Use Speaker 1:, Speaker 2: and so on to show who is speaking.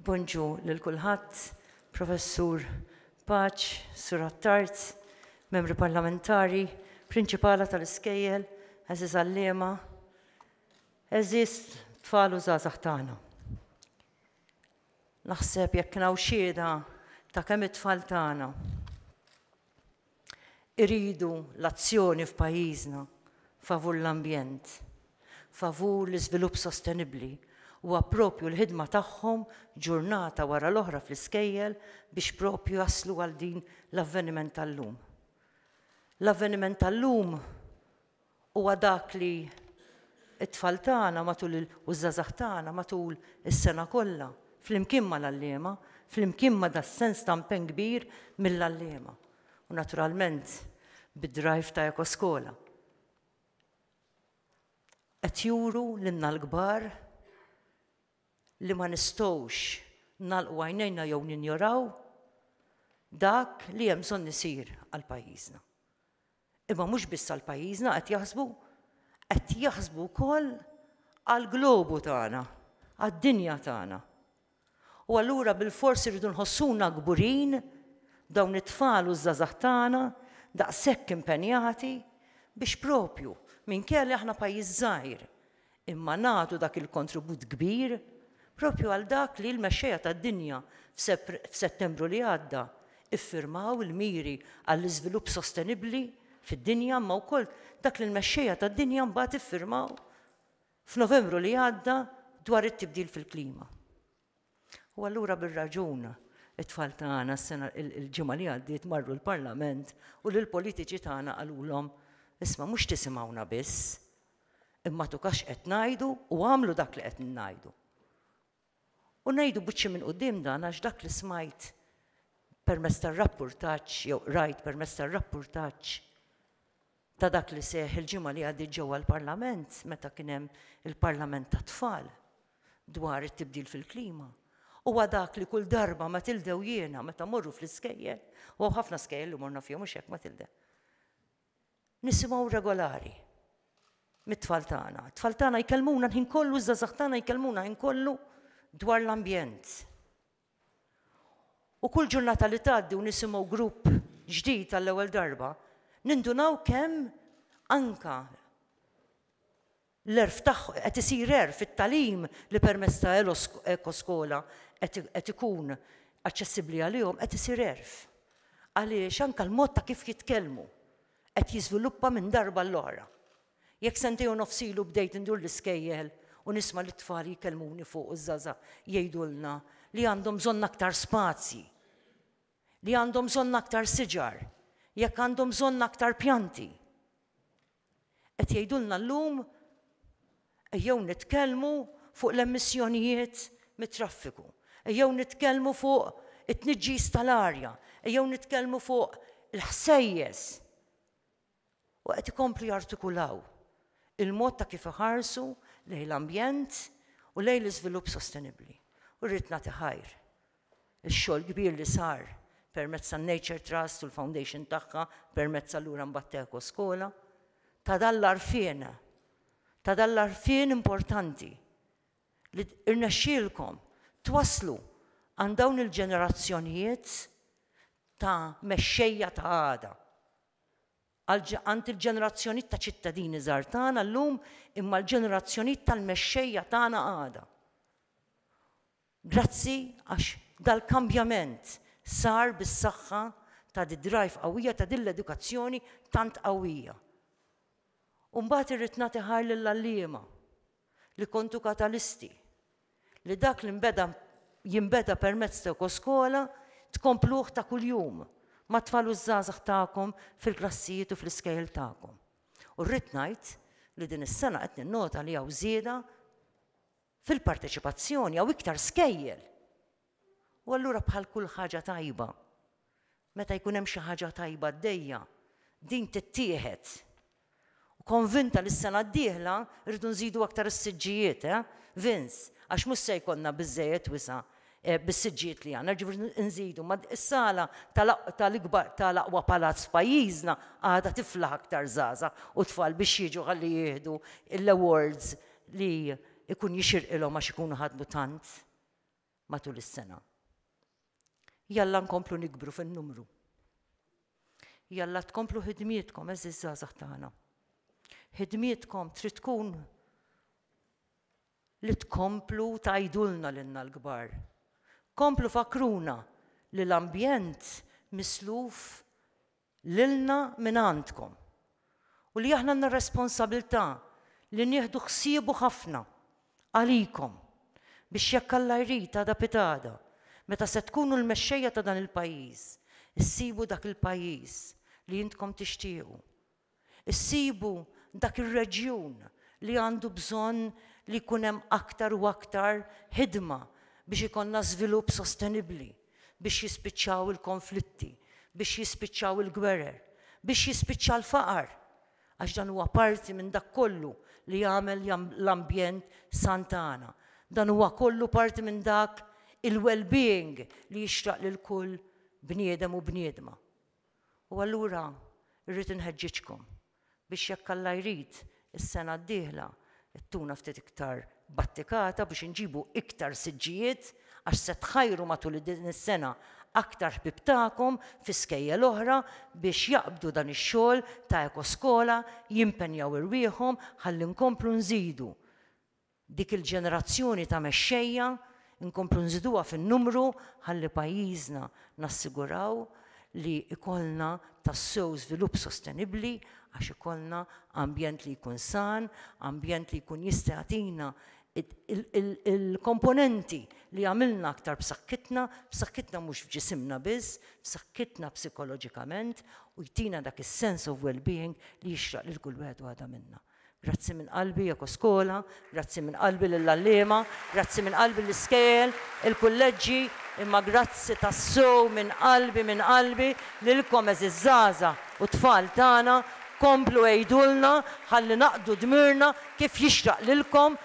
Speaker 1: Bonġu lil kulħadd, Professur Paċ, Sur Attard, Membri Parlamentari, Prinċipala tal-Iskejjel, Aziz Allema, Aziz tfal u żgħażagħ tagħna. Naħseb jekk naw xieda ta' kemm it-tfal tagħna. Irridu l-azzjoni f'pajjiżna favur l-ambjent, favur l-iżvilupp sostenibbli. Huwa proprju l-ħidma tagħhom ġurnata wara l-oħra fl-iskejjel biex proprju jaslu għal din l-avveniment tal-lum. L-avveniment tal-lum Huwa dak li t-tfal tagħna matul il u ż-żgħażagħ tagħna matul is-sena kollha, flimkien mal-għalliema, flimkien ma' das-sens ta' mpenn kbir mill-għalliema u naturalment bid-drive ta' Ekoskola, qed juru lilna l-kbar li ma nistgħux nagħlqu għajnejna jew ninjoraw dak li hemm bżonn isir għal pajjiżna. Imma mhux biss għal pajjiżna qed jaħsbu, qed jaħsbu wkoll għall-globu tagħna, għad-dinja tagħna. U allura bilfors irridu nħossuna kburin b'dawn it-tfal u ż-żgħażagħ tagħna daqshekk impenjati biex proprju minkejja li aħna pajjiż żgħir, imma nagħtu dak il-kontribut kbir proprju għal dak li l-mexxejja tad-dinja f'Settembru li għadda ffirmaw il-miri għall-iżvilupp sostenibbli fid-dinja imma wkoll dak li l-mexxejja tad-dinja mbagħad ffirmaw f'Novembru li għadda dwar it-tibdil fil-klima. U allura bir-raġun it-tfal tagħna s-sena l-ġimgħa li għaddiet marru l-Parlament u lill-politiċi tagħna qalulhom, isma' mhux tisimgħuna biss, imma tuka x'qed ngħidu u agħmlu dak li qed ngħidu. U ngħidu buċċi minn quddiem dan għax dak li smajt permezz tar-rappurtaġġ jew rajt permezz tar-rappurtaġġ ta' dak li seħħ il-ġimgħa li għaddiet ġewwa l-Parlament meta kien hemm il-Parlament tat-Tfal dwar it-tibdil fil-klima, huwa dak li kull darba Matilde u jiena meta mmorru fl-iskejjel, u hawn ħafna skejjel li morna fihom mhux hekk Matilde? nisimgħu regolari mit-tfal tagħna. It-tfal tagħna jkellmuna l-ħin kollu, ż-żgħażagħ tagħna jkellmuna l-ħin kollu dwar l-ambjent. U kull ġurnata li tgħaddi u nisimgħu grupp ġdid għall-ewwel darba, nindunaw kemm anka l-għerf tagħ, qed isir għerf, it-tagħlim li permezz ta' Ekoskola qed, qed ikun aċċessibbli għalihom qed isir għerf. Għaliex anka l-mod ta' kif jitkellmu qed jiżviluppa minn darba għall-oħra. Jekk sentejn u nofs ilu bdejt indur l-iskejjel u nisma' lit-tfal jkellmuni fuq u ż-żgħażagħ jgħidulna li għandhom bżonn aktar spazji, li għandhom bżonn aktar siġar, jekk għandhom bżonn aktar pjanti. Qed jgħidulna llum ejjew nitkellmu fuq l-emissjonijiet mit-traffiku, ejjew nitkellmu fuq it-tniġġis tal-arja, ejjew nitkellmu fuq il-ħsejjes. u qed ikomplu jartikulaw il-mod ta' kif iħarsu lejn l-ambjent u lejn l-iżvilupp sostenibbli. U rrid nagħti ħajr ix-xogħol kbir li sar permezz tan-Nature Trust u l-Foundation tagħha permezz allura mbagħad t'Ekoskola, ta' dan l-għarfien, ta' dan l-għarfien importanti li rnexxielkom twasslu għand dawn il-ġenerazzjonijiet ta' mexxejja ta' għada. għand il-ġenerazzjonijiet ta' ċittadini żgħar tagħna llum imma l-ġenerazzjonijiet tal-mexxejja tagħna għada. Grazzi għax dal-kambjament sar bis-saħħa ta' d-drive qawwija ta' din l-edukazzjoni tant qawwija. U mbagħad irrid nagħti ħajr lill-għalliema. li kontu katalisti li dak li nbeda jinbeda permezz ta' Ekoskola tkompluh ta' kuljum mat-tfal u ż-żgħażagħ tagħkom fil-klassijiet u fl-iskejjel tagħkom. U rrid ngħid li din is-sena qed ninnota li hawn żieda fil-parteċipazzjoni, hawn iktar skejjel. U allura bħal kull ħaġa tajba, meta jkun hemm xi ħaġa tajba għaddejja, din tittieħed. U konvinta li s-sena d-dieħla rridu nżidu aktar is-siġġijiet, eh, Vince, għax mhux se jkollna biżżejjed wisa' bis-siġġijiet li għandna, jiġifieri nżidu, ma s-sala tal-ikbar tal-aqwa palazz f'pajjiżna għadha tiflaħ aktar żgħażagħ u tfal biex jiġu ħalli jieħdu l-awards li jkun jixirqilhom għax ikunu ħadmu tant. matul is-sena. Jalla nkomplu nikbru fin-numru. Jalla tkomplu ħidmietkom eżiż żgħażagħ tagħna. Ħidmietkom trid tkun li tkomplu tajdulna lilna l-kbar. Komplu fakruna li l-ambjent misluf lilna mingħandkom u li aħna għandna r-responsabilità li nieħdu ħsiebu ħafna għalikom biex jekk Alla jrid għada pitgħada meta se tkunu l-mexxejja ta' dan il-pajjiż issibu dak il-pajjiż li intkom tixtiequ Issibu dak ir-reġjun li għandu bżonn li jkun hemm aktar u aktar ħidma biex ikollna żvilupp sostenibbli, biex jispiċċaw il-konflitti, biex jispiċċaw il-gwerer, biex jispiċċa l-faqar, għax dan huwa parti minn dak kollu li jagħmel l-ambjent san tagħna. Dan huwa kollu parti minn dak il-well-being li jixraq lil kull bniedem u bniedma. U allura rrid inħeġġiġkom biex jekk Alla jrid is-sena d-dieħla ttuna ftit iktar battikata biex inġibu iktar siġġijiet għax se tħajru matul din is-sena aktar ħbieb tagħkom fi skejjel oħra biex jaqbdu dan ix-xogħol ta' Ekoskola, jimpenjaw irwieħhom ħalli nkomplu nżidu Dik il-ġenerazzjoni ta' mexxejja nkomplu nżiduha fin-numru ħalli pajjiżna nassiguraw li jkollna tassew żvilupp sostenibbli għax ikollna ambjent li jkun san, ambjent li jkun jista' jagħtina l-komponenti li jagħmilna aktar b'saħħitna, b'saħħitna mhux f'ġisimna biss, b'saħħitna psikoloġikament u jtina dak is-sense of well-being li jixraq lil kull wieħed u waħda minna. Grazzi minn qalbi Ekoskola, grazzi minn qalbi lill-għalliema, grazzi minn qalbi l-iskejjel, il-kulleġġi, imma grazzi tassew minn qalbi, minn qalbi, lilkom għeżież żgħażagħ u tfal tagħna, komplu għidulna ħalli naqdu dmirna kif jixraq lilkom,